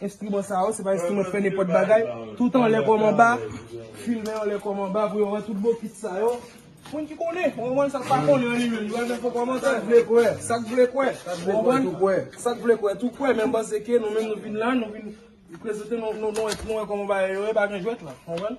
Enstriman sa yo se pa enstriman fè nenpòt bagay. Tout anlè kòm anba. Filmè anlè kòm anba pou yo wè tout bon kit sa yo. Moun ki konnen, ou konprann sa k pa konnen an li menm li pral fè fo kòmantè. Sa k vle kwè, sa k vle kwè. Sa k vle kwè tou kwè. Sa k vle kwè tou kwè men m panse ke nou menm nou vin la nou vin prezante nou wè kòman bagay yo ye pa gen jwèt la. Ou konprann?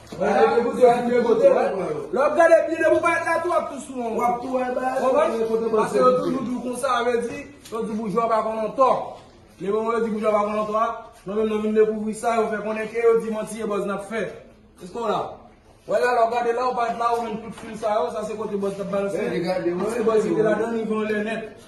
Gade kote pou ap gade kote pou pran yo. Lè w ap gade byen depi w pa ret la tou w ap tou sou yon. W ap tou wè bagay sa yo kote pou. Pase yo toujou di w konsa sa vle di yo di boujwa pa konn yon tò. Men moman yo di boujwa pa konn yon tò a nou menm nou vin dekouvri sa yo fè konnen ke yo di manti e buzz n ap fè. Eske w la? Wè la lè w gade la ou pa ret la ou menm tout fil sa yo sa se kote buzz t ap balanse. Gade wè. Tout se buzz ki te ladan l rive yon lè nèt.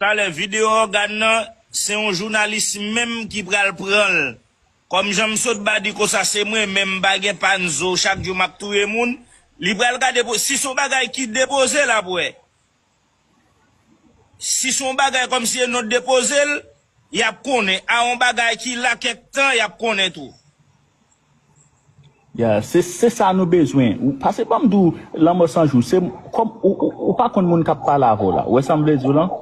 Talè video ògàn nan se yon jounalis menm ki pral pranl kòm janm sot badi konsa se mwen menm pa gen pann zo chak jou map touye moun li pral gade si son bagay ki depoze lap wè Si son bagay kom si e non depozel yap konnen a on bagay ki la kek tan yap konnen tou. Ya se se sa nou bezwen ou pase banm di w lanmò san jou se kòm ou ou pa konn moun kap pale avè w la ou wè sam vle di w lan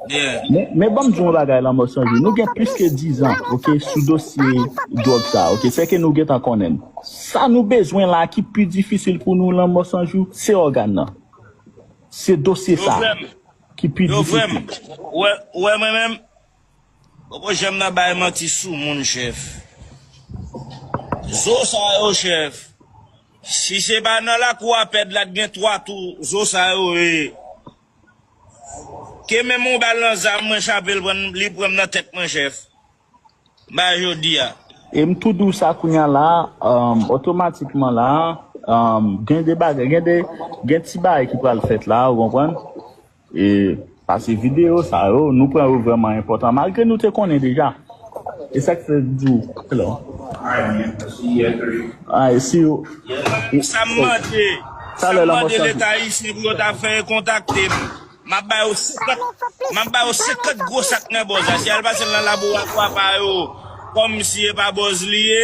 Yeah. men men banm di w yon bagay lanmò san jou nou gen plis ke 10 zan ok sou dosye dwòg sa ok sè ke nou gentan konnen l sa nou bezwen la ki pi difisil pou nou lanmò san jou se ògàn nan. Se dosye sa ki pi difisil. Ou wè mwen menm? Poko janm nan bay manti sou moun chèf. Zo sa yo chèf, si se pa nan lakou a pèd la t gen 3 tou zo sa yo ye. Ke menm yon bal nan zam mwen chapel pran li pranm nan tèt mwen chèf. Ba jodi a. E m tou di w sa kounye a la a, otomatikman la a, gen de bagay, gen de, gen ti bagay ki pral fèt la a, ou konprann? E, pase videyo sa yo, nou pran yo vrèman enpòtan, malgre nou te konnen deja. E sa k fè m di w, hello. Alright, si yo. Sa m mande, sa m mande leta ayisyen pou yo ta fè e kontakte m. Map ba yo 50 Map ba yo 50 gwo sak nan bòz la si al pasel nan laboratwa pa yo kòm si epa bòz li ye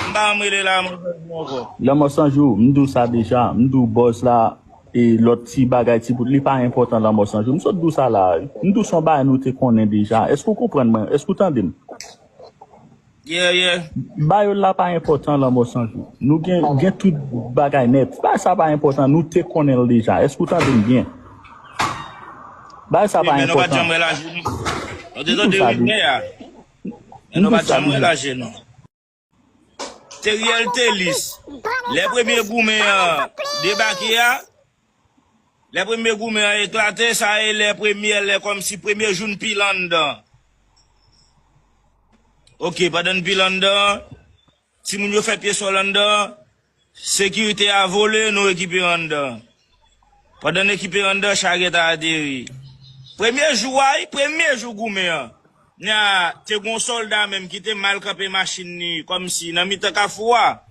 m pa janm rele la mòd bòz lan ankò. Lanmò san jou, m di w sa deja, m di w bòz la e lòt ti bagay ti bout li pa enpòtan lanmò san jou m sot di w sa la a wi. M di w son bagay nou te konnen deja, èske w konprann mwen, èske w tande m? Yeah yeah. Bayo la pa enpòtan lanmò sanjou nou gen gen tout bagay nèt bagay sa pa enpòtan nou te konnenl deja èske ou tande m byen bagay sa pa enpòtan kitou sa di kitou sa di la Teriel Telis lè premye goumen an debake a. Lè premye goumen an eklate, sa e lè premyè lè kòmsi premye jou n pile anndan. Ok, pandan n pile anndan, timoun yo fè pye sòl anndan, sekirite a vole, nou rekipere anndan. Pandan n ekipere anndan, charyèt a ateri. Premye jou a wi, premye jou goumen an, na te gen yon sòlda menm ki te mal kanpe machin li kòmsi nan mitan kafou a.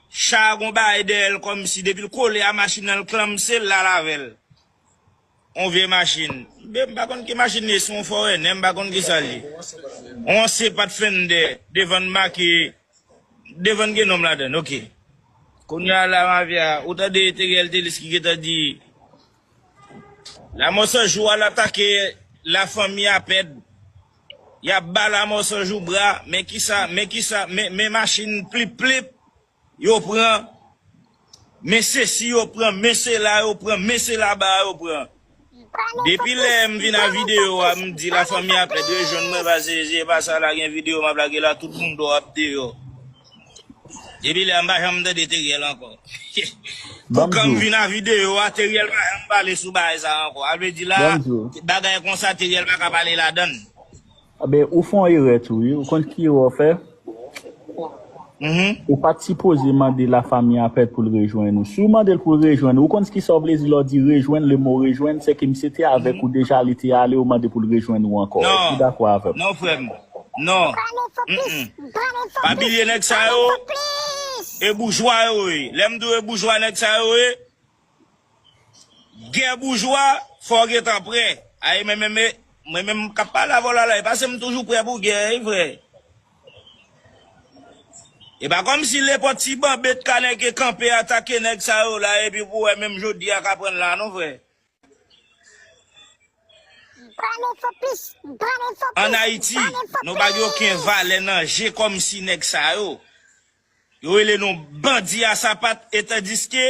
Cha a gon bagay dèyè l kòmsi depi l kole a machin nan l klanmse l al avè l. On vye machin. Be m pa konn ki machin li ye, se on fòrenè m pa konn kisa l ye. On anse pat fennde devan n make devan n gen non m ladan l. Ok. Kounya la mafya a. Ou tande Theriel Thelus ki gentan di Lamò san jou al atake la fanmi a pèd yap ba lamò san jou bra men kisa men kisa men machin plip plip yo pran men sesi yo pran men sela yo pran men sela ba yo pran depi lè m vin a video a m di la fanmi a pèd rejwenn mwen pase si e pa sa la gen video map lage la tout moun do ap deyò. Depi lè a m pa janm tande Teriel ankò. Pou kan m vin a video a Teriel pa janm pale sou bagay sa ankò. A vle di la bagay konsa Teriel pa ka pale ladann. Ebyen ou fè yon erè tou wi, ou konn ki erè ou fè? Ou pat sipoze mande la famille a pèt poul rejwenn ou. Si w mandel poul rejwenn ou, ou konn ski sa vle di lè w di rejwenn, le mo rejwenn, sè ke misye te avèk ou deja li te ale ou mande poul rejwenn ou ankò. Èske ou dakò avèm? Non frèm, Non. Mph. Pa bilye nèg sa yo e boujwa yo ye. Lè m di w e boujwa nèg sa yo ye, gè boujwa fò w gentan prè. A e men menm e, mwen menm k ap pale avè w la la e pa se m toujou prè pou gè e vre. E pa kòmsi nenpòt ti banbet kanè ke kanpe atake nèg sa yo la epi pou wè menm jodi a k aprann la non frè. An Ayiti, nou pa gen oken valè nan je kòmsi nèg sa yo, yo rele nou bandi a sapat etandiske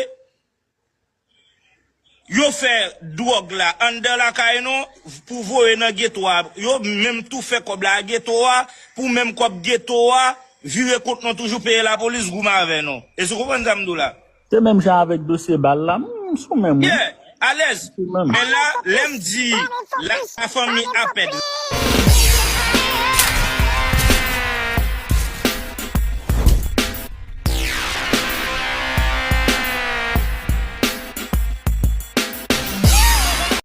yo fè dwòg la anndan lakay nou pou voye nan geto a, yo menm tou fè kòb la a geto a pou menm kòb geto a vire kont nou toujou peye lapolis goumen avè nou. Èske ou konprann sa m di w la? Se menm jan avek dosye bal la m sou menm wi. Yeah alèz men la lèm di la fanmi apèd la.